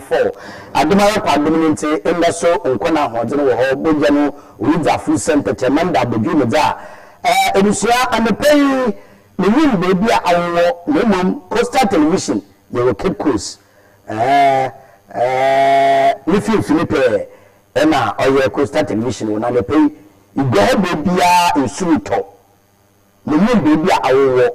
fɔw. Adom ara kwa adom no ntsi ndɛ so nkwa na ahoɔdzen wɔ hɔ, bɔgya no oridzi afor sɛ ntɛkyɛrema nda abodwoo mu dze a. Eh, ebusua, anɔpa yi minnyim beebi a awowɔ na mbom Coastal Television yɛwɔ Cape Coast, eh, eh, ne finimfin pɛɛ na ɔyɛ Coastal Television wɔ na anɔpa yi iguahɔ beebiara nsu rotɔ, minnyim beebi a awowɔ.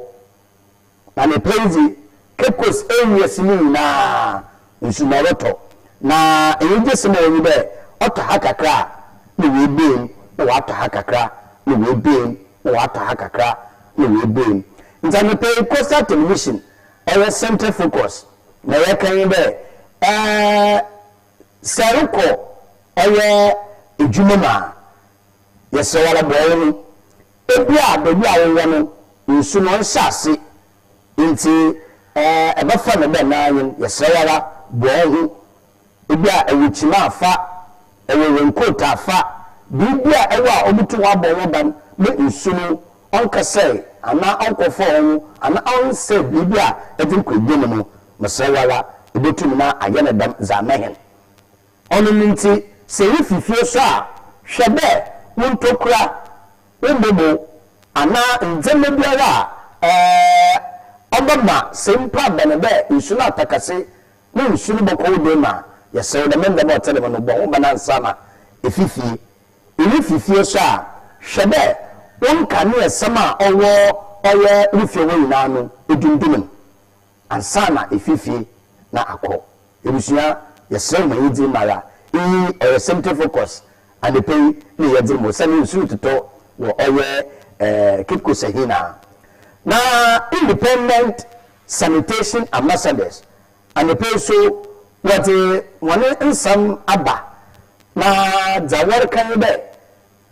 Anɔpa yi dze, Cape Coast ewiɛ si mu nyina nsu na ɔrotɔ, na enyigyesɛm a ɔwɔ mu nye dɛ ɔtɔ ha kakra a na oebue mu na ɔatɔ ha kakra na oebue mu na ɔatɔ ha kakra na oebue mu. Ntsi anɔpa yi Coastal Television ɔyɛ Centre Focus na yɛrekã nye dɛ eh sɛ erokɔ ɔyɛ edwuma mu a Yɛsrɛ wo ara boa yɛn. Ebia baabi a wowɔ no nsu no nhyɛ ase nti ɛbɛfa no dɛ na anyin. Yɛsrɛ wo ara boa wo ho. Ebia ɛwɔ kyim a fa, ɛwɔ raincoat a fa, biribi a ɛwɔ a obotum abɔ ho ban ma nsu no ɔnnkɛsɛe anaa ɔnnkɔfɔw wo ho anaa ɔnnsɛe biribi a edze rokɔ edwa mu no. Mesrɛ wo ara ibotum na ayɛ no dɛm dze ama hɛn. Ɔno ntsi, sɛ ifi fie so a, hwɛ dɛ wo ntokura, wo mboboo, anaa ndzɛmba biara a ɔbɛma sɛ mpo aber no dɛ nsu no atɔ kɛse na nsu no bɔkɔ wo dan mu a, yɛsrɛ wo dɛm ndzɛmba a ɔtse dɛm no bɔ ho ban ansaana efi fie. Irifi fie so a, hwɛ dɛ wo nkaneasɛm a ɔwɔ ɔyɛ wo fie hɔ nyina no, edundum no. Ansa na efi fie na akɔ. Ebusua, yɛserɛ mo ma yedzi mu ara. Iyi ɔyɛ Semte Focus anapa yi ne yɛdze mu osiandɛ nsu rototɔ wɔ ɔyɛ Kitco Sahina. Na Independent Sanitation Ambassadors anapa yi so wɔdze hɔn nsɛm aba na dza wɔreka nye dɛ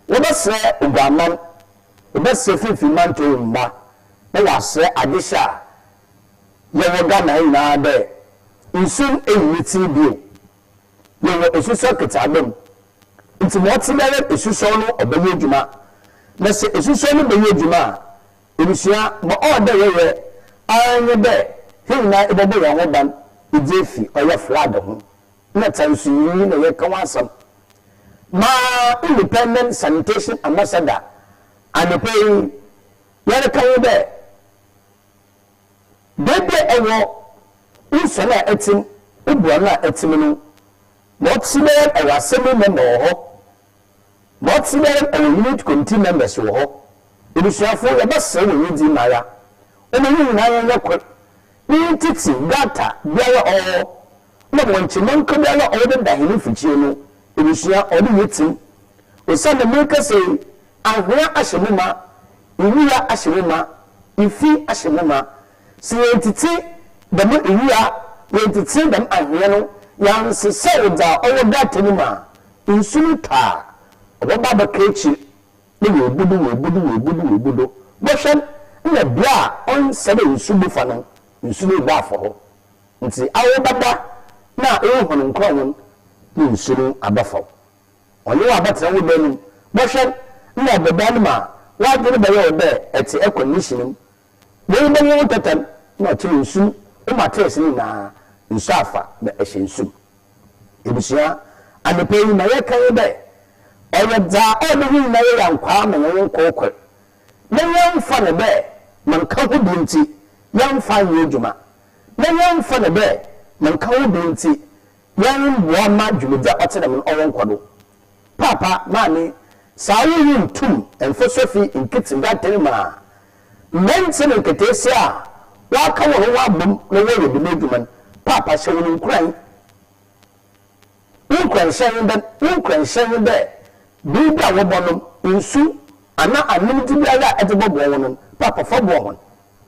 Wɔbɛsrɛ oguamman, wɔbɛsrɛ finimfin mantɔw mma, na wɔasrɛ adehyɛ a yɛwɔ Ghana ha nyinaa dɛ nsu eyi ne tsir bio. Yɛwɔ esusɔr ketseaba mu, ntsi ma ɔtse biara esusɔr no ɔbɛyɛ edwuma. Na sɛ esusɔr no bɛyɛ edwuma a, ebusua, ma ɔwɔ dɛ yɛyɛ ara nye dɛ hɛn nyina ebɔbɔ hɛnho ban edze efi ɔyɛ flood ho na tsansunyinyi na yɛreka ho asɛm ma Independent Sanitation Ambassador anapa yi yɛreka ho dɛ beebi a ewɔ, wo nsuano a etsim, wo boano a etsim no, ma ɔtse biara no ewɔ Assembly member wɔ hɔ, ma ɔtse biara no ewɔ Unit Committee members wɔ hɔ. Ebusuafo, yɛbɛserɛ hɔn enyidzi mu ara, ɔma hɛn nyina yɛnyɛ kor, ne yɛntsetse gutter biara a ɔwɔ hɔ Nna wɔn nkyema nkabua no a wɔdeda hɛn mfikyie no ebusua ɔde yɛ tsim. Osiandɛ merekasa yi, anhwea ahyɛ mu ma, iwia ahyɛ mu ma, ifi ahyɛ mu ma. Sɛ yɛnntsetse dɛm iwia, yɛnntsetse dɛm anhwea no, yɛannsesaw dza ɔwɔ data no mu a, nsu no tɔ a, ɔbɛba abɛka ekyir na oebu do, oebu do, oebu do, oebu do. Bɔhwɛ nna bea a ɔnnsɛ dɛ nsu bu fa no, nsu no rebɔ afa hɔ. Ntsi awobɛba na wo hɔn nkorɔn hɔn ne nsu no abɛfa wo. Ɔnye wo abɛtsena wo dan no mu. Bɔhwɛ, nna ɔbɔ dan no ma a, w'adwen bɛyɛ wo dɛ etse aircon ne hyɛn mu. Mbom wo bɛnye wo ntɛtɛ no na ɔkyerɛ nsu no wo mattress no nyina nsu afa na ehyɛ nsu mu. Ebusua, anapa yi ma yɛkã yi dɛ, Ɔyɛ dza ɔwɔ ho nyina yɛ yankwaa ma hɛn nkorkor, na yɛmmfa no dɛ ma nkã ho bi ntsi yɛmmfa nnyɛ edwuma. na yɛmmfa no dɛ mennka wo do ntsi yɛremmboa mma dwumadzi a ɔtse dɛm no ɔnnkɔ do. Paapa, Maame, saa wo wu nntum mmfa Sophie nnkitsi Gauteng mu a, mberantsɛ na nkataasia a wɔaka hɔnho abɔ mu na wɔreyɛ dɛm edwuma no, Paapa hyɛ hɔn nkuran. Wo nkoranhyɛ nye dɛ wo nkoranhyɛ nye dɛ ber bi a wɔbɔnom nsu anaa anomdze biara a edze bɔboa hɔn no, Paapa fa boa hɔn.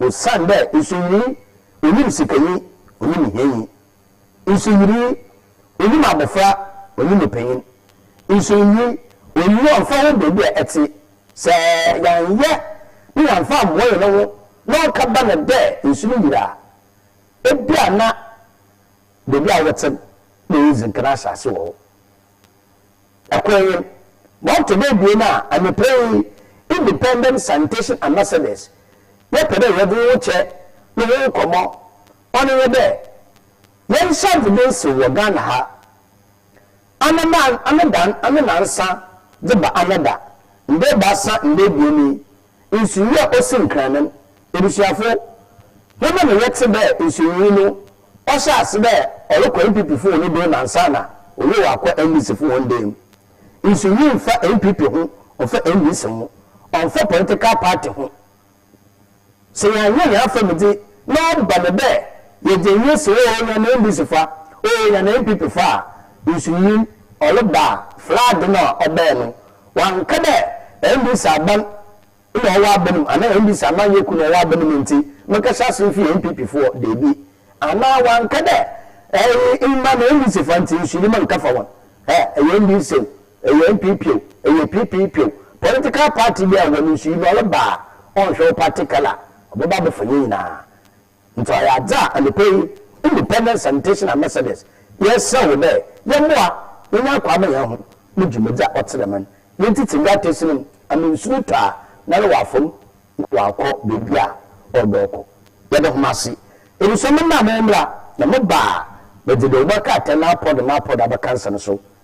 Osiandɛ nsuyirii onyim sikanyi, onyim hianyi. Nsuyirii onyim abofra, onyim panyin. Nsuyirii onnyi ɔmmfa ho beebi a etse. Sɛ yɛannyɛ na yɛammfa ammboa hɛnho na ɔkã ba no dɛ nsu no yir a, bi a na. Beebi a wɔtse no, nna yeedzi nkan ahyɛase wɔ hɔ. Kor nye ma ɔtɔ do ebien a anapa yi Independent Sanitation Ambassadors yɛpɛ dɛ yɛdze wo kyɛ no ho nkɔmbɔ, ɔno nye dɛ, yɛnhyɛ adze do nsew wɔ Ghana ha. Anada, anada, ananansa dze ba anada, nda ebiasa, nda ebien yi, Nsuyi a osi nkrannam. Ebusuafo, hom na yɛtse dɛ nsuyiyi no ɔhyɛɛ ase dɛ ɔrokɔ NPP fo hɔn dan mu ansaana oyeew akɔ NDC fo hɔn dan mu. Nsuyiyi mmfa NPP ho, ɔmmfa NDC ho, ɔmmfa political party ho. Sɛ yɛannyɛ hɛn afamudze na ɔba no dɛ yɛgye hɛn esi hɔ oo hɛn NDC fa oo hɛn NPP fa a, nsuyiyi ɔreba a, flood no a ɔbae no Ɔannka dɛ NDC aban na ɔwɔ aban mu anaa NDC amanyɛ kuw na ɔwɔ aban mu ntsi menkɛhyɛ ase mfi NPP fo hɔ, dabi. Anaa ɔannka dɛ ɛy mma me NDC fa ntsi nsuyi menkɛfa hɔn. Ɛ ɛyɛ NDC o, ɛyɛ NPP o, ɛyɛ PPP o, political party biara hɔn nsuyi no ɔreba a ɔnnhwɛ wo party colour, ɔbɛba abɛfa hɛn nyina. Ntsi ɔyɛ adze a anapa yi Independent Sanitation Ambassadors yɛreserɛ wo dɛ yɛmboa na nya akwaaba hɛnho mu dwumadzi a ɔtse dɛm no na yɛntsetse nkratasin no mu ama nsu no tɔ a na no ɔafa mu na ɔakɔ beebi a ɔwodɔ ɔkɔ. Yɛda hom ase. Ebusua memba a mowɔ mbra na moba a, medze dewbɔ krataa na apɔw do na apɔw do abɛka nsɛm so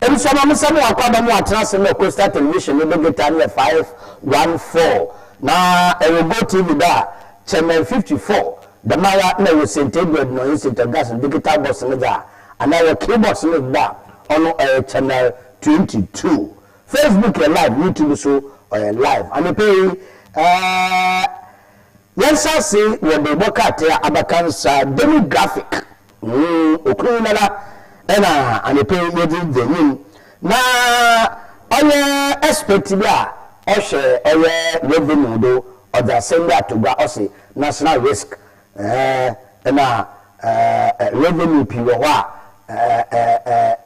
Ebusua maame Samuel Akwaba no atena ase ma Coastal Television no de guitar no yɛ 514 na ɛwɔ Go TV do a Chairman 54 dɛm ara na ɛwɔ Saint Edward no nye Saint Augustine no digital box no dze a anaa ɛwɔ Keybox no do a ɔno ɔyɛ Channel 22. Facebook yɛ live, YouTube so ɔyɛ live anapa yi. Yɛnhyɛ ase wɔ merebɔ krataa abakan sa demographic ho okunu yi nana ɛna anɔpɛ yi yɛde di anim na ɔyɛ expert bi a ɔhwɛ ɔyɛ revenue do ɔdze asɛm bi ato gua ɔse national risk ɛɛ na ɛɛ revenue pii wɔ hɔ a ɛɛ ɛɛ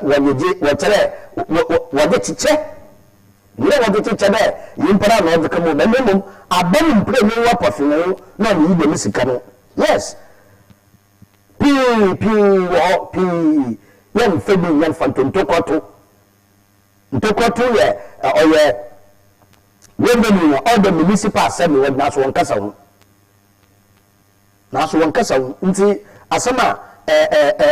wɔyɛ gye wɔkyerɛ wɔ wɔ wɔde kyekyɛ Nyia wɔdze kyekyɛ dɛ nyimpa no a na ɔdze ka mu, na mbom aban mu mprenu nwa pɔfee na ɔmeyi dɛm sika no. Yes, pii, pii wɔ hɔ, pii. Yɛmfa bi, yɛmfa nto ntokwato. Ntokwato yɛ, ɔyɛ revenue a ɔda municipal assembly hɔ, naaso wɔnnkasa ho. Naaso wɔn kasa wu. Ntsi asɛm a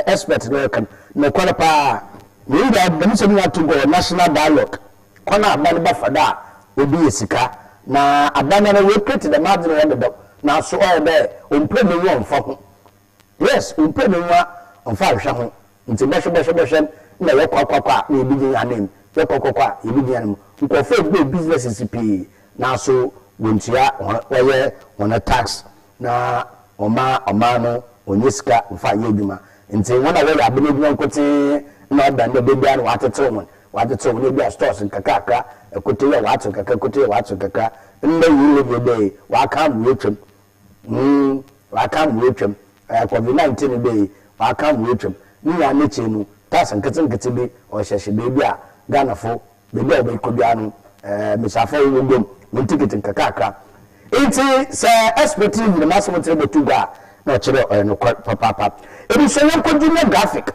expert no reka no, nokwar paa. Mbom dɛm nsɛm nyina to gɔɔ national dialogue, kwan a aban bɛfa do a wɔdze yɛ sika. Na aban noara woecreate dɛm adze no hɔ dedaw, naaso ɔyɛ dɛ ommpuer n'enyiwa mmfa ho. Yes, ommpuer n'enyiwa mmfa nnhwɛ ho. Ntsi bɔhwɛ bɔhwɛ bɔhwɛ nna yɛkɔakɔakɔ a na yebegyina hɛn ananmu, yɛkɔakɔakɔ a yebegyina hɛn mu. Nkorɔfo ebuei businesses pii naaso wonntua hɔn wɔyɛ hɔn tax na wɔmma ɔman no onnya sika mfa nnyɛ edwuma. Ntsi hɔn a wɔyɛ aban edwuma nkotsee na ɔba ndɛ beebiara no wɔatsetsew hɔn, wɔatsetsew hɔn ebia stores nkakrankra, ɛkotee a wɔatsew kakra, ɛkotee a wɔatsew kakra. Ndɛ yi Levy ɔbae yi, wɔakã mbrɛ otwa mu, Ee, ɔaka mbowa etwam. Ɔyɛ akɔdwe na ntsi no dɛyi ɔaka mbowa etwam. Ne nyinara n'ekyir no, tas nketsenketse bi ɔhyɛhyɛ beebi a Ghanafo, beebi a wɔbɛkɔ biara no, ɛɛ, mbasiafo a wɔwɔ guam, hɔn tikit nkakrankra. Ntsi sɛ expert no nyin m'asɛm nkyerɛ bɔto gua a, nna ɔkyerɛ dɛ ɔyɛ nokwar papaapa. Ebusuanyɛnko dzi nye graphic.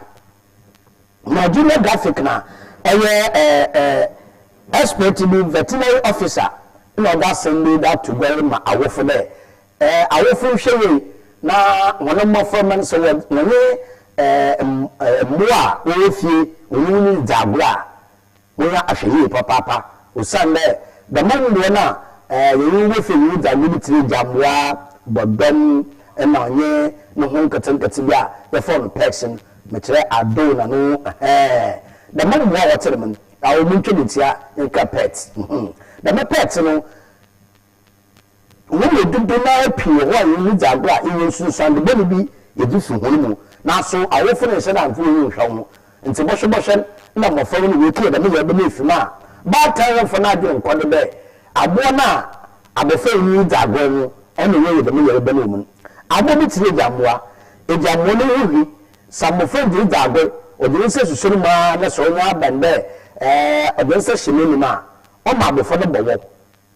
Najume Gafik na ɔyɛ expert bi, veterinary officer, na ɔdɔ asɛm bi dze ato gua yi ma awofo dɛ, Awofo nhwɛ yie na hɔn mboframba no sɛ wɔnye mbowa a wɔwɔ fie, wɔnye hɔn ridzi agor a, Monyɛ ahwɛyie papaapa osiandɛ dɛm mbowa no a hɛn wofie nye dza medzi tse dɛ gyambowa, bɔdɔm na ɔnye no ho nketsenketse bi a yɛfrɛ no pecs no, mekyerɛ adoo na no hɛɛn. Dɛm mbowa a wɔtse dɛm no, aɔ montwa me ntsia yɛnka pets. Dɛm pets no. hɔn mu dodow no ara pii wɔ hɔ a hɔn mu dzi agor a nnyɛ nsunsuando bɔn bi yedzi fi hɔn mu, naaso awofo no nnhyɛ da nnto hɔn nnhwɛ hɔn ho. Ntsi bɔhwɛbɔhwɛ na mbofra hɔn woetu wɔ dɛm yaw bɛn efi mu a, baatan remmfa n'adwen nnkɔ do dɛ abowa no a abofra yi nye no dzi agor no na ɔayɛ dɛm yaw bɛn wɔ mu no. Abowa bi tse dɛ egyambowa. Egyambowa no ho hu. Sɛ mbofra dze ridzi agor, ɔdze ne nsa susuo no mu ara na sɛ onya bɛn dɛ ɔdze ne nsa hyɛ n'anomu a, ɔma abofra no bɔwɔw.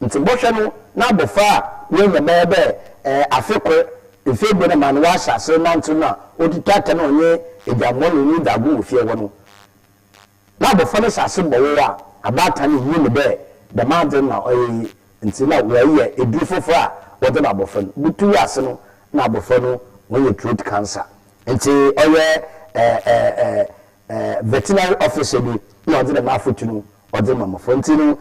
Ntsi bɔhwɛ no n'abofra a oenya bɛyɛ dɛ afe kor, mfe ebien ama no ɔahyɛ ase renantsew no a odzi tɔatɔ na ɔnye edwambɔnenyi dze ago wɔ fie hɔ no. N'abofra no hyɛ ase bɔwow a, abaatan no nnyim dɛ dɛm adze no na ɔyɛ iyi ntsi na wɔreyɛ edur fofor a wɔdze ma abofra no. Butuw ase no nna abofra no oenya throat cancer. Ntsi ɔyɛ veterinary officer bi na ɔdze dɛm afotu no Ɔdze ma mbofra ntsi no,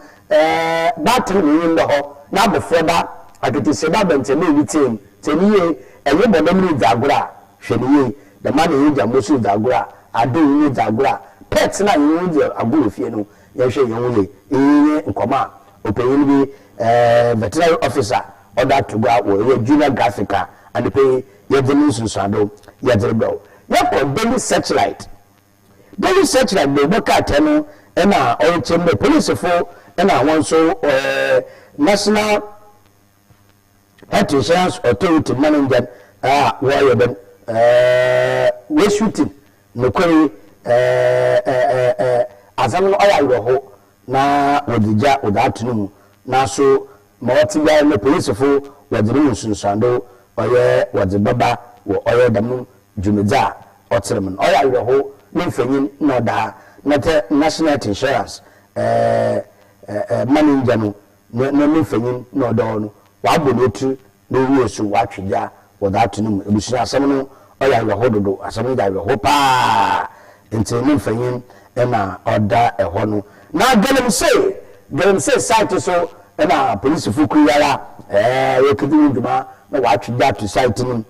baatan no nnwom da hɔ, na abofra da, aketesia da bɛn tsɛmee ne tsia mu. Tsie no yie, enye bɔdɔm ridzi agor a, hwɛ no yie. Dɛmara na hɛn gyambɔ so ridzi agor a, adɔn nye dzi agor a, pets no a hɛnye hɔn dzi agor wɔ fie no, yɛnhwɛ hɛnho yie. Iyi nye nkɔmbɔ a ɔpanyin bi, veterinary officer, ɔdze ato gua wɔ ɔyɛ Junior Graphic a anapa yi yɛdze no nsunsuando yɛdze rebrɛ wo. Yɛkɔ Daily Searchlight. Deli Sechra de bɔ krataa no na ɔrekyerɛm dɛ polisifo na hɔn so National Health Insurance Authority Manenjan a wɔreyɛ dɛm rescue-team nokwar yi asɛm no ɔyɛ awerɛhow na wɔdze gya wɔdze ato no mu. Naaso ma ɔtse biara no polisifo wɔdze no mu nsunsuando ɔyɛ wɔdze bɛba wɔ ɔyɛ dɛm dwumadzi a ɔtser mu no, ɔyɛ awerɛhow ne mfonyin na ɔdaa na tɛ National Health Insurance ɛɛɛ ma ne ngya no ne ne mfonyin na ɔdɔɔ no, ɔabɔ no etsir na owie so ɔatwe gya wɔ dza ato no mu. Ebusua, asɛm no ɔyɛ awerɛhow dodow, asɛm no gye awerɛhow paa ntsi ne mfonyin na ɔda hɔ no. Na galamsey, galamsey site so na polisifo kuw yi ara ɛɛɛ woekedzi ho dwuma na wɔatwe gya ato site no mu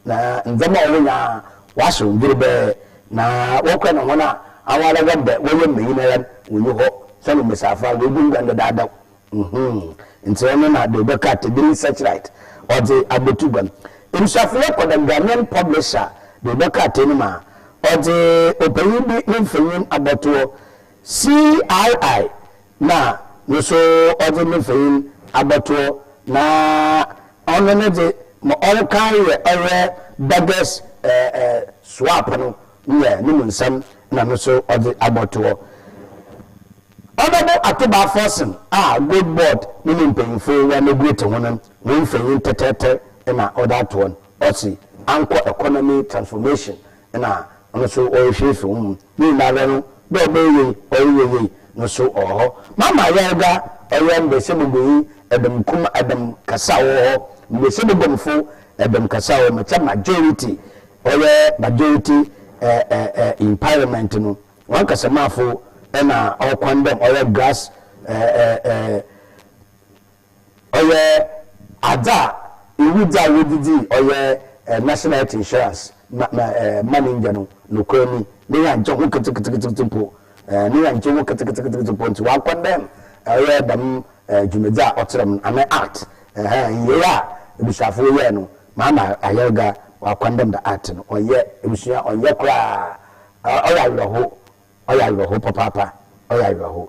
Na ndzɛmba a ɔwɔ nyina ɔahyew dwerebɛɛ, na wɔkora na hɔn a aɔara wɔm dɛ wɔyɛ mbanyin ara n' wonnyi hɔ, sian wɔ mbasiafo a woegunguan dedaada ho. Mhmm, ntsi ɔno na do ebɛka ato bi nye Searchlight ɔdze aboto gua no. Ebusuafona kɔ The Ghanaian Publisher do ebɛka ato no ma ɔdze ɔpanyin bi ne mfonyin abɔtoɔ, CII na no so ɔdze ne mfonyin abɔtoɔ na Ɔno no dze, ma ɔnnkãe yɛ ɔyɛ beggars swap no nnyɛ no mu nsɛm na no so ɔdze abɔto hɔ. Honourable Atubaa Forson a Gold Board no ne mpanyimfo wɔanegoete ho no hɔn mfonyin tɛtrɛtɛr na ɔdze ato hɔ no, ɔse ankɔ economy transformation na ɔno so ɔrehwɛ efi wo mu. Ne nyinaa do no, dɛ ɔbɛyɛ yie, ɔreyɛ yie no so ɔwɔ hɔ. Mama Yarga ɔyɛ mbasiabaguanyi dɔm kum dɔm kasa a ɔwɔ hɔ, mbasiabaguamfo dɔm kasa a ɔwɔ hɔ, ma kyɛ majority ɔyɛ majority in parliament no hɔn kasamafo na ɔkwan dɛ ɔyɛ grass Ɔyɛ adze a iwu dze a wɔdze dzii ɔyɛ National Health Insurance ma ma ma ne ndwan no. Nokwar ni, ne hɛn nnkye ho ketseketseketse mpo. Ne hɛn nnkye ho ketseketseketse mpo ntsi wɔakɔndɛɛm ɔyɛ dɛm dwumadzi a ɔtserɛɛm no anaa act. Ɛhɛn, nyieyɛ a ebusuafo wɔyɛe no, Maama Ayerga wɔakɔndɛɛm da act no. Ɔnnyɛ ebusua, ɔnnyɛ koraa. Ɔyɛ awerɛhow, Ɔyɛ awerɛhow papaapa, ɔyɛ awerɛhow.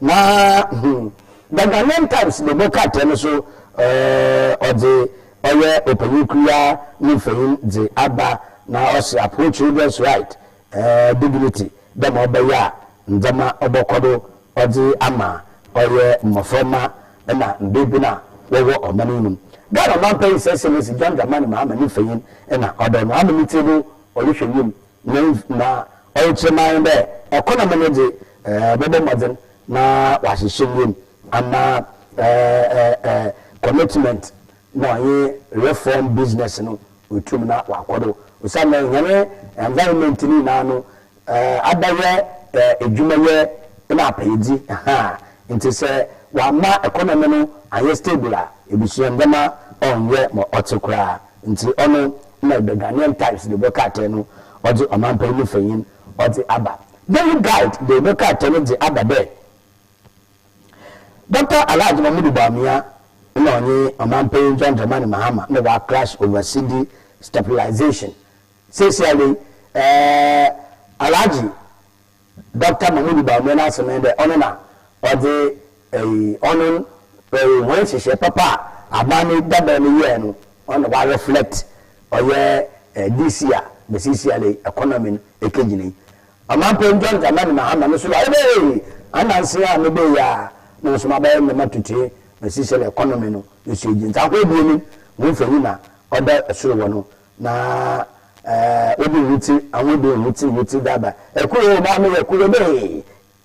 Na hmm, The Ghanaian Times no bɔ krataa no so eh, ɔdze ɔyɛ ɔpanyin kuruwaa ne mfonyin dze aba na ɔse Apoho Children's Right eh, Dignity dɛ ma ɔbɛyɛ a ndzɛmba ɔbɔkɔ do ɔdze ama ɔyɛ mboframba na mbeebun a wɔwɔ ɔman yi mu no. Ghana Ɔmampanyin Sir Sir Leslie John Dramani Mahama ne mfonyin na ɔda no ama ne tsir do ɔrohwɛ wimu Na na ɔrekyerɛ ma hɛn dɛ kwan a menye dze bɔbɔ mbɔdzen na wɔahyehyɛ mu no ama commitment na ɔnye reform business no oetum na ɔakɔ do osiandɛ hɛn environment ne nyina no abɛyɛ edwumayɛ na apɛyɛdzi ha ntsi sɛ wɔamma economy no annyɛ stable a, ebusua ndzɛmba ɔnnyɛ ma ɔtse koraa. Ntsi ɔno na the Ghanaian Times dze bɔ krataa no ɔdze ɔmampan mu fanyin ɔdze aba. Daily Guide dze bɔ krataa no dze aba dɛ, Dɔkta Alhaj Mahmudu Bawumia na ɔnye Ɔmampanyin John Dramani Mahama na wɔaklash over cedi stabilisation. Seseiara yi, Alhaji. Dɔkta Mahmoud Bawumia n'asɛm nye dɛ ɔno na ɔdze ɔno hɔn nhyehyɛɛ papa a aban no dadaw no yɛe no, ɔno na ɔa reflect ɔyɛ this year basically economy no ekegyina yi. Ɔmampanyin John Dramani Mahama no so ɔayɛ dɛ hey, ananse yi a mebaa yi ara na mo so mabayɛ ndzɛmba totee basically economy no no so egyina. Ntsi akɔ ebien no hɔn mfonyin na ɔda sor hɔ no, Na wode woti ahoden woti woti daba ɛkuro na meyɛ kuro de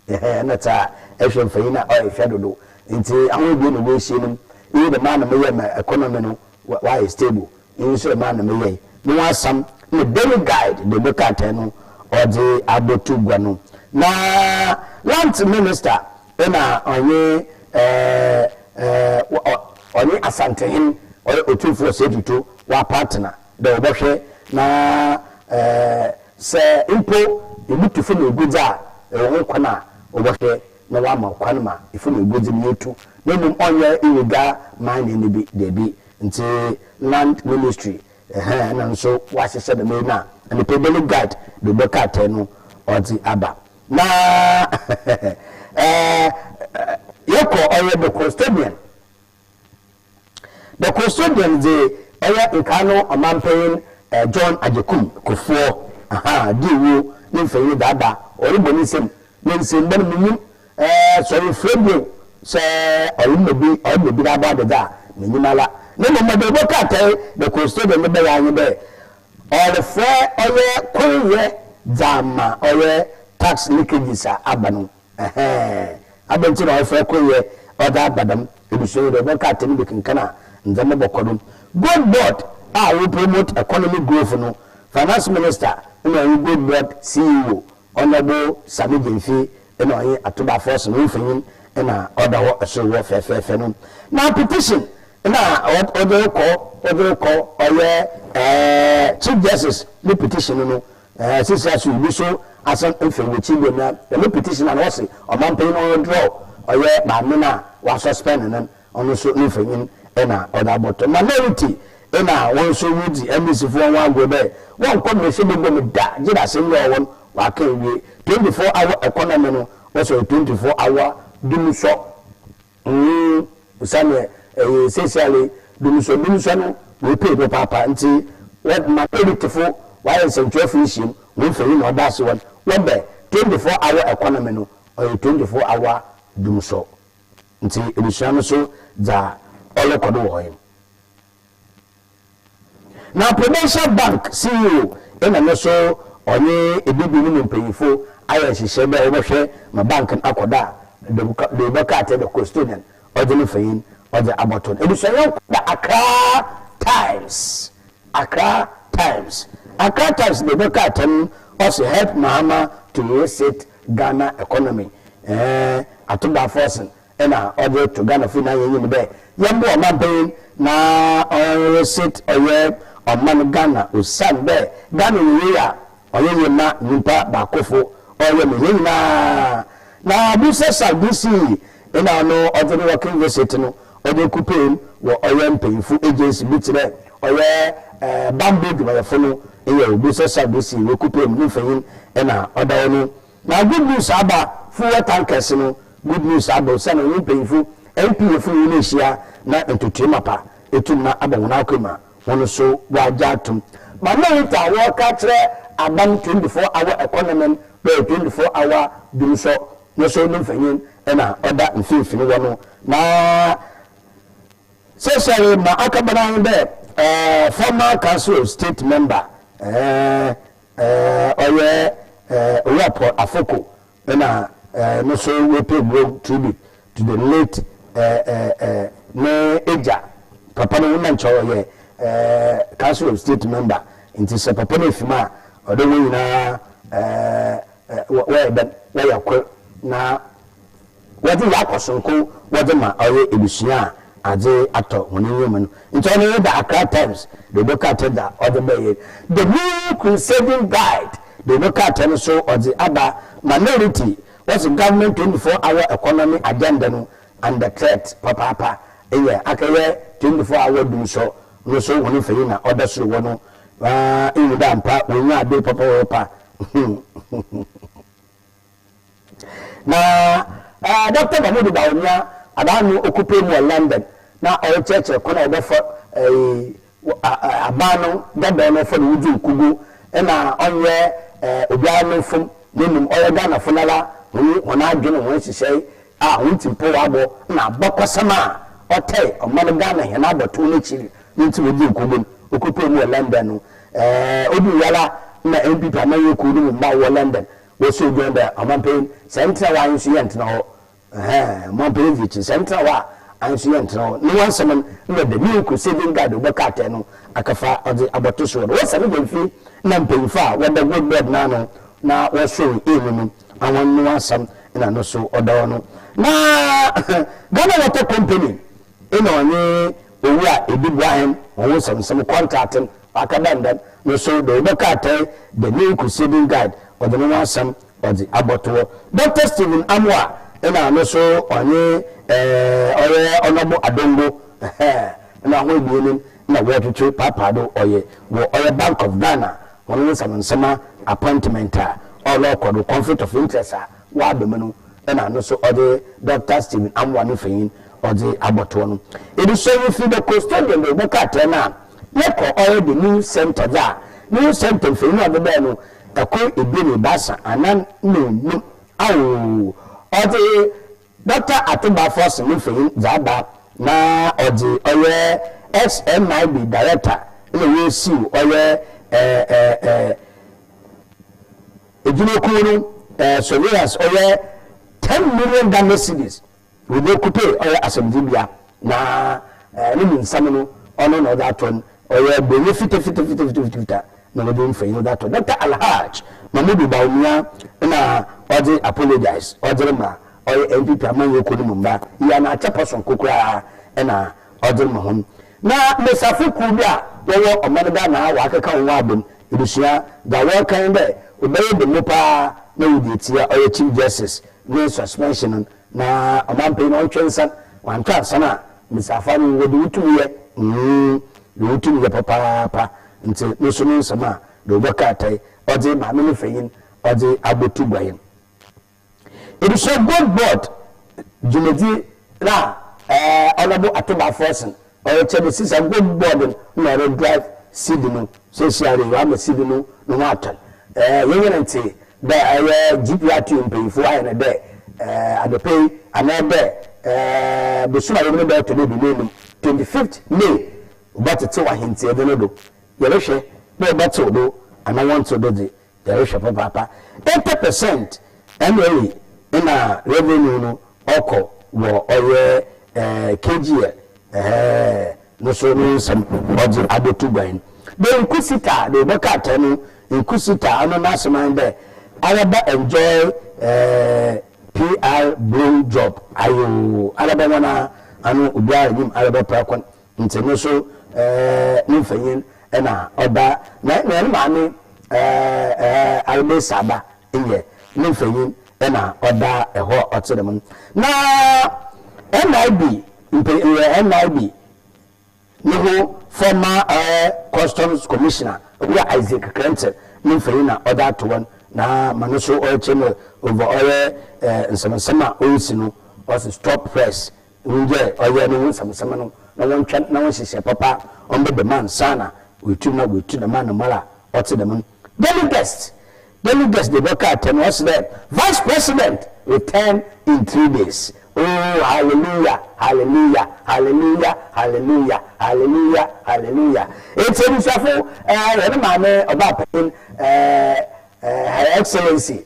ɛhɛn na taa ɛhwɛ mfa yi na ɔyɛ hwɛ dodo nti ahoe bie na wɔahyia nim iyi na maa na meyɛ ma economy no wayɛ stable iyi nso na maa na meyɛ me ho asam na daily guide de ne krataa no ɔde abɔto gua no na lands minister Nna ɔnye ɔnye Asantehen ɔyɛ Otumfo Osei Tutu wɔapartsena dɛ wɔbɔhwɛ na sɛ mpo ibutu famu eguadzi a ewɔ ho kwan a wɔbɔhwɛ na wɔama kwan ma famu eguadzi no yetu na mbom ɔnnyɛ illegal mining no bi dabi ntsi Land Ministry nna no so wɔahyehyɛ dɛm yi no a nna Pebele Guide do bɔ krataa no ɔdze aba. Na yɛkɔ ɔyɛ the custodian the custodian dze ɔyɛ nkaa no ɔmampanyin John Agyekum Kofoɔ di ewuo ne mfanyin daada ɔrebɔ ne nsam ne nsamba no minyim sɛ ɔyɛ frɛ bio sɛ ɔyɛ mma bi ɔyɛ mma bi n'abɔ adadze a minyim ara ne mbom mede ɔbɔ krataa yi the custodian no bɛyɛ ara nye dɛ Ɔrefrɛ ɔyɛ koryɛ dza ama ɔyɛ tax leakages a aba no ɛhɛɛn. Adɛn ntsi na ɔrefrɛ koryɛ ɔdze aba dɛm ebusua yi do? Ɔbɛka atsɛm do kenkan a ndzɛmba bɔkɔ do. Gold board a wo promote economic growth no, finance minister na ɔnye gold board CEO Honourable Sammy Gyamfie na ɔnye Atuba Force no mfonyin na ɔda hɔ sor hɔ fɛɛfɛɛfɛ no. Na petition Nna wɔdze rokɔ wɔdze rokɔ ɔyɛ Chief Justice ne petition no sesera so yi bi so asan efi n'ekyir bio na dɛm petition a na ɔse ɔmampanyin no ɔnwithdraw ɔyɛ maame no a wɔasuspend no no so ne mfonyin na ɔdze abɔto minority na hɔn so ridzi MDCfo hɔn ho agor dɛ wɔnnkɔ mbrahyɛ bagua mu da gyedɛ asɛm yi a ɔwɔ hɔ no wɔakã ewie. Twenty four hour economy no wɔsɛ ɔyɛ twenty four hour dumsɔ. Nhu sɛdeɛ ɛyɛ seisiale Dunusɔ Dunusɔ no wei pei papaapa nti wɔ ma Editfo wayɛ nsɛntwerɛfo nhyiam wɔ mfonyin na ɔda ase wɔn wɔ bɛ 24 hour economy no ɔyɛ 24 hour Dunusɔ nti edesua no so dza ɔrokɔ do wɔ hɔ yi no Na Prudential Bank CEO na no so ɔnye Ebibir no mu mpanyimfo ayɛ nhyehyɛɛ dɛ wɔbɔhwɛ ma bank no akɔ do a dwowbɔ krataa dɛ custodian ɔdze no mfonyin ɔdze abɔto no. Ebusuanyɛnko da Accra Times Accra Times Accra Times dwowbɔ krataa no ɔse Help Mahama to Reset Ghana Economy eh Ato Dafosen na ɔdze to Ghana fo nyina hɛn enyim dɛ yɛmboa ɔmampanyin na ɔnreset ɔyɛ ɔman Ghana osiandɛ Ghana yɛ yie a ɔyɛ yie ma nyimpa baakofo ɔyɛ ma hɛn nyina na Bursar Sardisi na ɔno ɔdze no working visit no ɔdze ekupeem wɔ ɔyɛ mpanyinfo agency bi tserɛ ɔyɛ bambɔ edwumayɛfo no nyɛe Bursar Sardisi wekupeem no mfanyin na ɔda hɔ no Na Good News Aba fuel tank kɛse no Good News Aba osian ɔnye mpanyimfo MP efun hɔn ehyia na ntotoe mapa etum na abɔ hɔn akwa mu a hɔn so wɔagye ato mu. Ma Merit a wɔreka akyerɛ Aba no twenty four hour economy no bɛyɛ twenty four hour doom sɔ no so no mfanyin na ɔda mfinfin wɔ no na sɛsɛre ma akɛbana ho dɛ former council of state member eh Ɛɛ ɔyɛ ɛɛ Owura Paul Afoko na ɛɛ no so wepay mmerɛw tribute to the late ɛɛ ɛɛ ɛɛ ne agya papa no ho na nkyɛ ɔyɛ ɛɛ council of state member nti sɛ papa no efim a ɔde wɔn nyinaa ɛɛ ɛɛ wɔyɛ dɛn wɔyɛ kor na Wɔdze Yakob soronko wɔdze ma ɔyɛ ebusua a adze atɔ hɔn enyiwa mu no. Nkyɛ ɔno nye dɛ Accra Times dze no krataa dze a ɔdze bae yi. The New Crusading Guide dze no krataa no so ɔdze aba ma Minority, wɔse government tonyifoɔ awɔ economy agenda no under threat papaapa, eyɛ akɛyɛ tonyifoɔ a awɔ dumsɔ no so hɔn mfanyin a ɔda sor hɔ no, aa, ihu dɛ ampa wonyaa aber papa wɔrepa. Na Dɔkta Mahmoud Bawumia ada ano ɔkupe mu wɔ London na ɔrekyerɛkyerɛ kwan a wɔbɛfa aban no dɔdɔ no fa no wudzi nkugu na ɔnnyɛ obiara no mfom na mbom ɔyɛ Ghanafo no ara hɔn adwen na hɔn nhyehyɛe a hɔn tsirpɔw abɔ na abakɔsɛm a ɔtɛɛ ɔman Ghana hɛn abɔtow n'ekyir no ntsi wodzii nkɔmbɔ no, okotwaa mu wɔ London no. Odur hɔ ara na NPP amanyɛ kuw no mu mba a wɔwɔ London wɔsoo John dɛ ɔmampanyin, sɛ enntena hɔ a ahensu yɛnntena hɔ, ɛhɛɛn, ɔmampanyin dze ekyi, sɛ enntena hɔ a ahensu yɛnntena hɔ. No w'asɛm no nna dɛ me uncle Saving Guard ɔbɛka atar no akɛfa ɔdze abɔto soɔ no. Wɔsɛn John fie na mpanyimfo a wɔda Gold Board n'ano na wɔsow hɛn mu no Awan no asɛm na no so ɔda hɔ no. Na Ghana Water Company na ɔnye owu a edi boa hɛn hɔn ho nsɛmnsɛm kɔntrate no ɔaka dɛ ndɛ no so dɛ wɔbɛka ataa The Main Crusading Guide ɔdze no ho asɛm ɔdze abɔto hɔ. Dɔkta Stephen Amoah na no so ɔnye Ɔyɛ Ɔnɔbo Adongo na hɔn ebien na wɔtwetwe paapaa do ɔyɛ wɔ ɔyɛ Bank of Ghana hɔn wo nsɛm nsɛmba appointment a ɔrokɔ do conflict of interest a wɔaba mu no na no so ɔdze Doctor Stephen Amoah ne mfanyin ɔdze abɔtoɔ no. Yɛdze sɔn yi fir the custodian do bɛkɔ atar no a yɛkɔ ɔyɛ the news centre dze a news centre mfanyin ɔdze bɛɛ no kor ebien ebiasa anan na enum aoo ɔdze Dɔkta Ato Baffour se ne mfonyin dze aba na ɔdze ɔyɛ SMIB director na woesiw ɔyɛ edwumakuw no surveillance ɔyɛ ten million Ghana cedis wɔ Nyokupe ɔyɛ asɛmdzibea. Na ne mu nsɛm no, ɔno na ɔdze ato n', ɔyɛ Borɔnyi fitafitafitafitafita na wɔdze mfonyin no dze ato. Dɔkta Alhaj Mahmudu Bawumia na ɔdze apologise ɔdze rema ɔyɛ NPP amanyɛkuo no mu mba yi an'akyɛpɛ soronko koraa na ɔdze rema hɔn na mbasiafo kuw bi a wɔwɔ ɔman Ghana a wɔakeka hɔn abɔ mu ebusua dza wɔrekã nye dɛ, Ɔbɛyɛ dɛ mu paa na wɔdze etsia ɔyɛ Chief Justice ne suspension no. Na ɔmampɛyi na ɔntwɛ nsan wantɔ ansan a mesi afa no wɔ de wo tumi yɛ mm de wo tumi yɛ papaapa nti no so no nsɛm a de wo bɔ kaatae ɔdze maame ne fanyin ɔdze abɔ tu gua yɛn ebusuakuo board dwumadzi no a ɛɛ ɔnɔbo ato baa fɛɛsen Ɔrekyɛ no sisa go board na ɔre drive seed no sɛsiare wama seed no no ho atɔn ɛɛ yɛn yɛn nte dɛ ɛyɛ GPRTU mpanyinfo ayɛ no dɛ ɛɛ anɔpɛ yi anaa dɛ ɛɛ bosom a yɛm no bɛɛtɔ dɛ dumien num 25th May wobɛtete w'ahenteɛ de no do yɛrehwɛ dɛ wɔbɛtew do anaa wɔntew do dze. Yɛrehwɛ papaapa, eighty percent ɛna ɛyɛ ɛna revenue no ɔkɔ wɔ ɔyɛ ɛɛ KGL ɛɛ no so no nsɛm ɔdze abɛtu guan. Dɛ Inquisitor a, dɛ ɔbɔ krataa mu Inquisitor ɔno n'asɛm ara nye dɛ, Araba enjoy ɛɛ PR blow job ayoo, araba hɔn ara ano obiara nyim araba prako Ntsi no so no mfanyin na ɔba, na mbom no maame Armesa ba nnyɛ no mfanyin na ɔba hɔ a ɔtse dɛm no. Na NIB NIB no ho former Customs Commissioner Owura Isaac Krentzl no mfanyin na ɔdze ato hɔ no, na ma no so ɔrekyerɛ mu over ɔyɛ nsɛm nsɛm a orisi no, ɔse stop press Wongyae ɔyɛ no ho nsɛmnsɛm no na wɔntwɛn na wɔnhyehyɛ papa a ɔmbɛ dɛm ansaana oetum na oetu dɛm anamar a ɔtse dɛm no. Daily Guest Daily Guest dze dɔ kaa atsɛm yi, ɔse dɛ, Vice President return in three days, ooh hallelujah, hallelujah, hallelujah, hallelujah, hallelujah, hallelujah. Ntsi ebusuafo, hɛn Maame Ɔbaapanyin, Her Excellency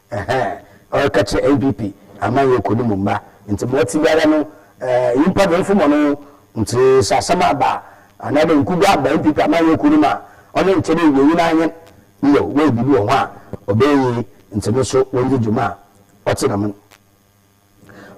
Ɛhɛɛ ɔreka kyerɛ NPP amanyɔkɔ no mu mma nti ma ɔte biara no ɛɛ nyimpa do mfomɔ no ho nti sɛ asɛm aba a anaa dɛ nkugu aba NPP amanyɔkɔ no mu a ɔno nkyɛ dɛ ewia yi no anyen no yɛw wɔ yɛ biribi wɔ ho a ɔbɛyɛ yie nti no so wɔngye dwuma a ɔtse dɛm no.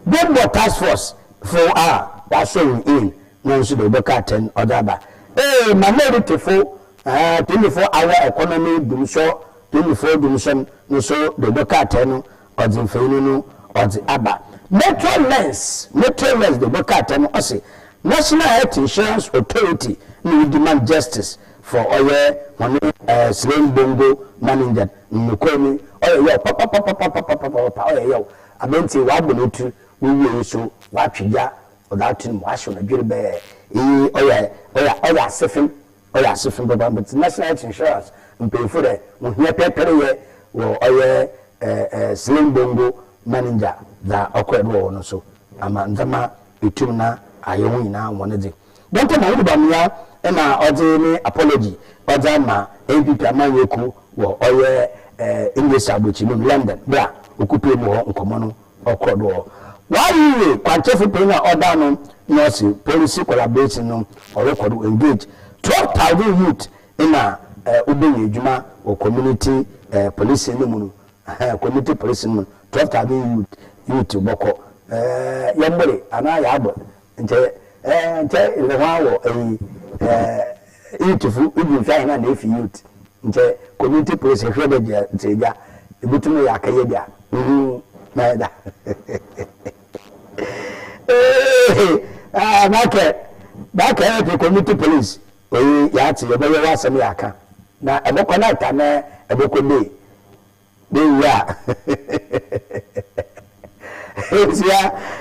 Bɔmbɔ task force fo a wɔahyɛ hɔn A no nso dɛ wɔbɔkɔ atsɛn ɔdze aba. A Manority-fo Tumifo Awa Economy Dwumsɔ Tumifo Dwumsɔ no so dɛ wɔbɔkɔ atsɛn no ɔdze mfonyin no ɔdze aba. Metro Lens Metro Lens dɛ wɔbɔkɔ atsɛn no ɔse National Health Insurance Authority na Woodman Justice for ɔyɛ hɔn Srembongo Maningyan. Nokwar mu, ɔyɛ yaw papapapapapapapaapa, ɔyɛ yaw. Aber ntsi wɔabɔ no etsir, wowie no so wɔatwe gya ɔdze ato no mu, wɔahyew no dwerebɛɛ. Iyi ɔyɛ ɔyɛ ɔyɛ asefem, ɔyɛ asefem papaapa. Ntsi National Health Insurance mpanyimfo dɛ wohia pɛrpɛr yɛ wɔ ɔyɛ Sling Bongo Maninja dza ɔkɔr do wɔ hɔ no so ama ndzɛmba etum na ayɛ hɔn nyina hɔn dze. Dɛn ntsi na Yehoba mia na ɔdze ne apology ɔdze ama NPP amanyɛ kuw wɔ ɔyɛ English aborɔkyi mu no London ber a okupaa mu hɔ nkɔmbɔ no ɔkɔr do hɔ? Ɔayeyɛ kwankyerɛfo panyin a ɔda ano na ɔse policy collaboration no ɔrokɔ do engage twelve thousand youth na wobenya edwuma wɔ community policing no mu no huh community policing no mu no twelve thousand youth youth bɔkɔ yɛmboree anaa yɛabor Nkyɛ eh nkyɛ yɛdze hɔn awɔ eyi eh youthfo ibi nhwɛ ahɛn a na efi youth nkyɛ community police ehwɛ dɛ gya dze egya ibotum eyɛ akɛyɛ bi a uhu na yɛda eeh ah makɛ makɛ efi community police oyi yɛatse yɛbɛyɛ w'asɛm yɛakã na ebɔkɔ night anaa ebɔkɔ day. Me wura Nhyira,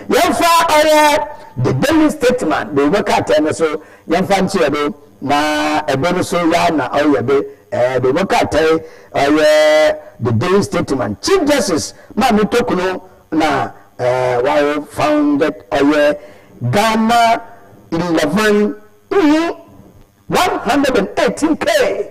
yɛmfa ɔyɛ The Daily Statesman de woma krataa no so yɛmfa nkyerɛ no na ɛbɛ no so ya na ɔyɛ be ɛɛ de woma krataa ɔyɛ The Daily Statesman Chief Justice Maame Tokunu na ɛɛ wawo founded ɔyɛ Ghana eleven mm one hundred and eighteen K.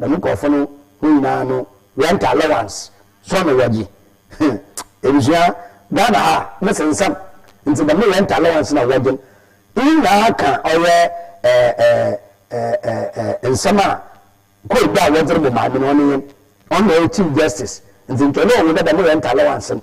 Dɛm nkorɔfo no hɔn nyina no rent allowance so na wɔgye hmm ebusua Ghana ha no sensɛm ntsi dɛm rent allowance na wɔgye no iyi nyina ka ɔyɛ eh eh eh eh eh nsɛm a code a wɔdze robɔ maame no ɔnye hɛn ɔno na ɔyɛ chief justice ntsi nkyɛ ɔno ohu dɛ dɛm rent allowance no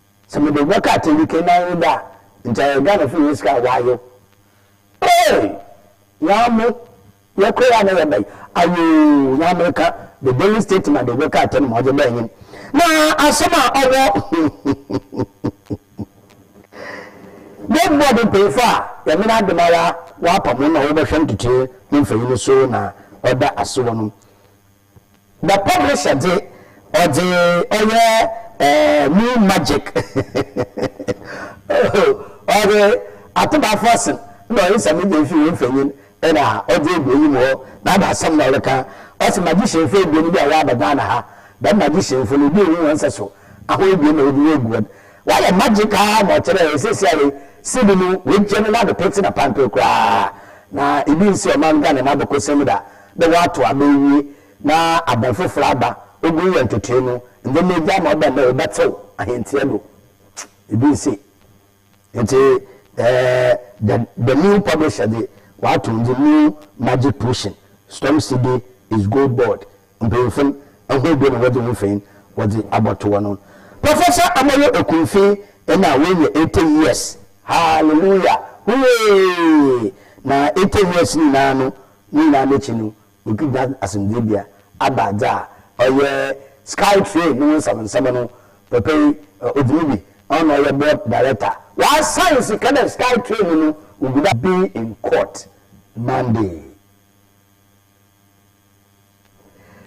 Sɛ mede wo bɛka atɛnyi kɛnnan no da a, nkyɛ ayɛ Ghana fie yɛ sika a w'ayew. Eei! Nyame! Yɛ kɔ yi a na yɛ bɛn? Ayoo! Nyame ka, the daily state ma de wo bɛka atɛnyi ma ɔdze bɛn nyin. Na asɛm a ɔwɔ Big board mpanyinfo a yɛmen adom ara w'apam hɔn na wɔbɛhwɛ ntotoe ne mfɛnyi no so na ɔda ase wɔ no. Na publisher dze ɔdze ɔyɛ new magic oh ɔdze ato bafɔsen na ɔyɛ nsɛm no dze efi wo mfanyin na ɔdze egu enyim hɔ na ada asɛm na ɔreka ɔse magicianfo ebien bi a wɔaba Ghana ha dɛm magicianfo no obi nnhu hɔn nsɛso ahorow ebien na wɔdze woegu hɔn wɔayɛ magic ara ma ɔkyerɛ dɛ seseiara yi seed no woegye no n'ado petse na pantoo koraa na ibi nnsi ɔman Ghana n'abakɔsɛm mu da dɛ wɔato aba ewie na aber fofor aba, ogu yɛ ntotoe no, ndzɛmba egya ma ɔba ndɛ wɔbɛtsew ahɛntsia do. Bi nnsi. Ntsi the the new publisher dze ɔato ndze new magic potion, storm city is gold board, mpanyimfo no hɔn do na wɔdze hɔn mfonyin wɔdze abɔto hɔ no. Professor Amoyo Okunfi nna oenya eighty years, hallelujah, hooray! Na eighty years ne nyina no Ne nyinara n'ekyi no, wokedua asomdweebea aba dza ɔyɛ Sky Train no ho nsɛmnsɛm no, Poppey Odumegui, ɔno na ɔyɛ board director. Wɔasaen sika dɛ Sky Train no wogu do. be in court Monday.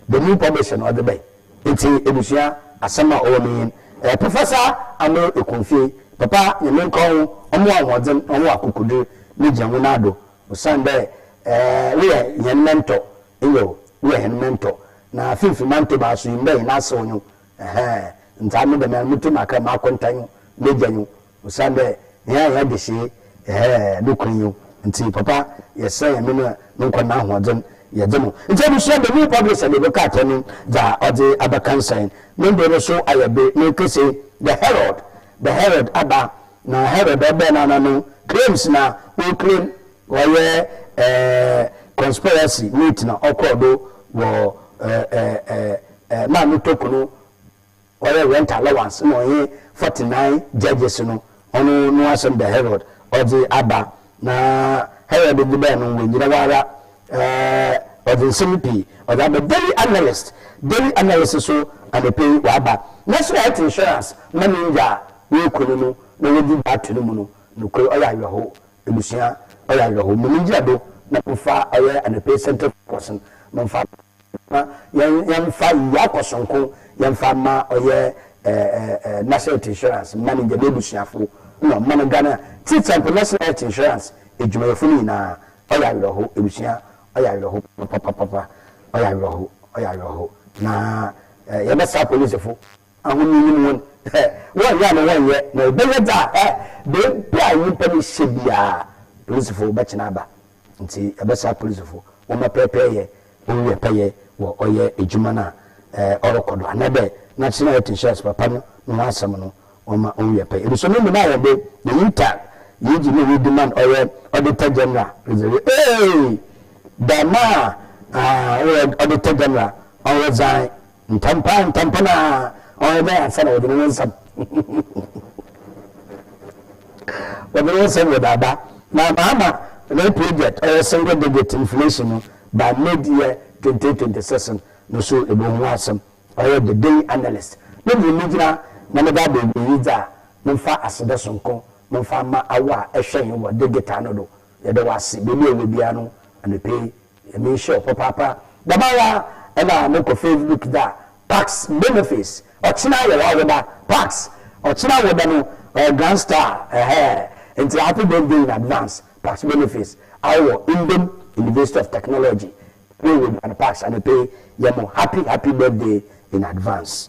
The new publishing ɔdze bɛn ntsi ebusua asɛm a ɔwɔ m'enyin eh Professor Amoh Ekunfie papa Nyame nka wo ho ɔma wo ahoɔdzen na ɔma wo akokodur na gyina wo nan do osiandɛ eh woyɛ hɛn mentor nyew woyɛ hɛn mentor na finimfin Mantam ha so nyimdɛ hɛn asew nyew eh ndzɛa me dɛm ara motum aka mu akɔnta nyew m'egya nyew Osiandɛ nyɛɛ hɛn adesee, yɛhɛɛ no kwan yi ntsi, Papa, yɛserɛ hɛn me na me nkwa n'ahoɔdzen, yɛgye no. Ntsi ebusua, The New Publisher de book akyerɛ no dza ɔdze abɛkansan. No mber no so ayɛ be, no kese, The Herald, The Herald aba, na Herald ɔbɛn no ana no claims na o claim ɔyɛ eh, conspiracy meet na ɔkɔr do wɔ eh, eh, eh, eh, Maa Mutoko no, Ɔyɛ rent allowance na ɔnye forty nine judges no ɔno no asɛm da Herod ɔdze aba na Herod dze bae no oennyina hɔ ara eh ɔdze nsɛm pii ɔdze aba Daily Analyst Daily Analyst so anapa yi ɔaba naaso health insurance ma ne nda a woeku no no na wɔdze bi ato no mu no nokwar ɔyɛ awerɛhow ebusua ɔyɛ awerɛhow mom ngyina do na momfa ɔyɛ anapa yi central focus no momfa Na yɛn yɛn fa Yaa kɔ sonko yɛn fa ma ɔyɛ ɛɛ ɛɛ National Health Insurance mma no gya n'abusuafo na ɔmma no Ghana ti example National Health Insurance adwumayɛfo no nyinaa ɔyɛ awerɛho abusua ɔyɛ awerɛho papapapapa ɔyɛ awerɛho ɔyɛ awerɛho na ɛɛ yɛbɛsa polisifo. Ahonya yi mu hɔn, eh, wɔnnyɛ ama wɔnnyɛ, na wɔbɛyɛ dza, eh, beebi a nyimpa no hyɛ biara, polisifo bɛkye no aba. Ntsi yɛbɛsera polisifo, wɔmma pɛrpɛryɛ owia pɛyɛ wɔ ɔyɛ edwuma no a, eh, ɔrokɔ do, anaadɛ n'akyena a yɛtse shares papa no no ho asɛm no, wɔmma owia pɛyɛ. Ebusua no nyina hɔn do, the Utah Yeji no Yeji man, ɔyɛ Auditor General, Reserve, eei, dɛm a, ah, ɔyɛ Auditor General, ɔresign. Ntampaa ntampon a ɔyɛ dɛ ansa na wɔdze no ho nsɛm wɔdze no ho nsɛm wɔ daba na Mahama ne project ɔyɛ single digit inflation no ba mid year twenty twenty six no so ebohu ho asɛm ɔyɛ the daily analyst no dze me gyina na mede aba ewiei dze a momfa aseda sonko momfa mma awo a ɛhwɛ hen wɔ digital no do Yɛda wo ase, baabi a yɛwɔ biara no, anɔpa yi, Nyame nhyira wo papaapa. Dɛm ara na mo kɔ Facebook da Pax Benefiz, ɔkyena yɛ w'awoda, Pax, ɔkyena awoda no, ɔyɛ Grand Star, ɛhɛɛ, nti happy birthday in advance, Pax Benefiz, awo wɔ Indom University of Technology, baabi a yɛwɔ biara no, Pax, anɔpa yi, yɛ mo happy, happy birthday in advance.